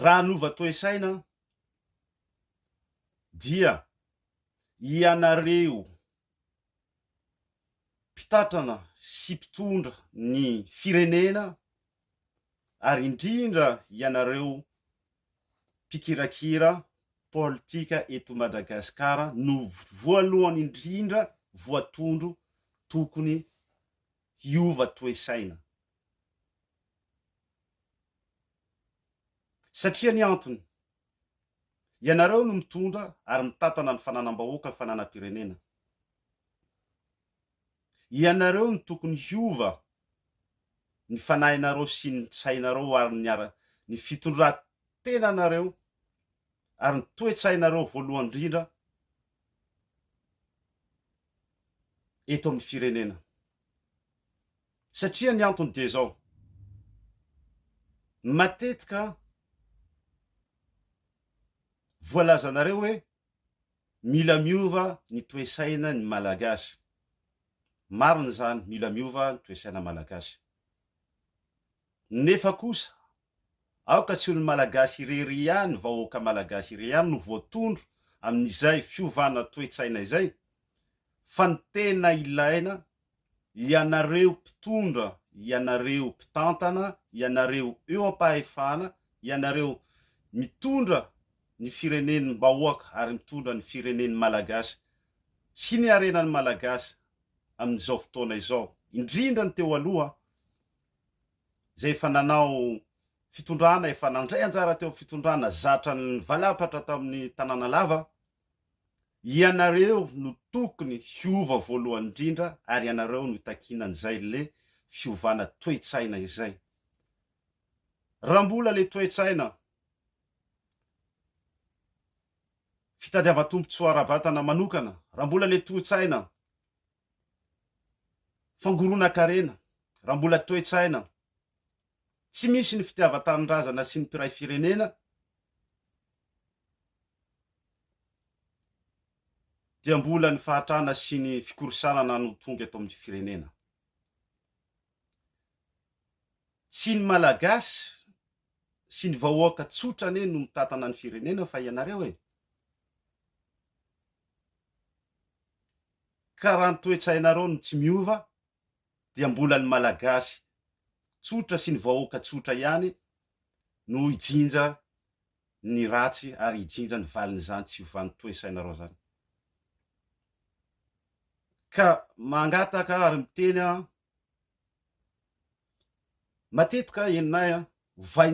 Raha hanova toe-saina aho dia ianareo mpitatrana sy mpitondra ny firenena ary indrindra ianareo mpikirakira politika eto Madagasikara no voalohany indrindra voatondro tokony hiova toe-saina. Satria ny antony, ianareo no mitondra ary mitantana ny fananam-bahoaka, fananam-pirenena. Ianareo no tokony hiova ny fanahinareo sy ny sainareo ary ny ara, ny fitondran-tenanareo ary ny toe-tsainareo voalohany indrindra eto amin'ny firenena. Satria ny antony dia izao, matetika voalazanareo hoe mila miova ny toe-saina ny Malagasy. Marina izany, mila miova ny toe-saina Malagasy. Nefa kosa Aoka tsy ho ny Malagasy irery ihany, vahoaka Malagasy irery ihany no voatondro amin'izay fiovana toe-tsaina izay, fa ny tena ilaina, ianareo mpitondra, ianareo mpitantana, ianareo eo am-pahefana, ianareo mitondra ny firenen'ny bahoaka ary mitondra ny firenen'ny Malagasy sy ny harenan'ny Malagasy amin'izao fotoana izao, indrindra ny teo aloha, izay efa nanao fitondrana, efa nandray anjara teo amin'ny fitondrana zatra nivalapatra tamin'ny tanàna lava, ianareo no tokony hiova voalohany indrindra ary ianareo no hitakiana an'izay le fiovana toe-tsaina izay. Raha mbola le toe-tsaina fitadiavan-tombontsoa ara-batana manokana, raha mbola le toe-tsaina Fangoronan-karena, raha mbola toe-tsaina tsy misy ny fitiavan-tanindrazana sy ny mpiray firenena dia mbola ny fahatrana sy ny fikorisanana no tonga eto amin'ny firenena. Tsy ny Malagasy sy ny vahoaka tsotra anie no mitantana ny firenena fa ianareo e! Ka raha ny toe-tsainareo no tsy miova dia mbola ny Malagasy tsotra sy ny vahoaka tsotra ihany no hijinja ny ratsy ary hijinja ny valin'izany tsy fiovan'ny toe-sainareo izany. Ka mangataka ary miteny aho, matetika henonay an,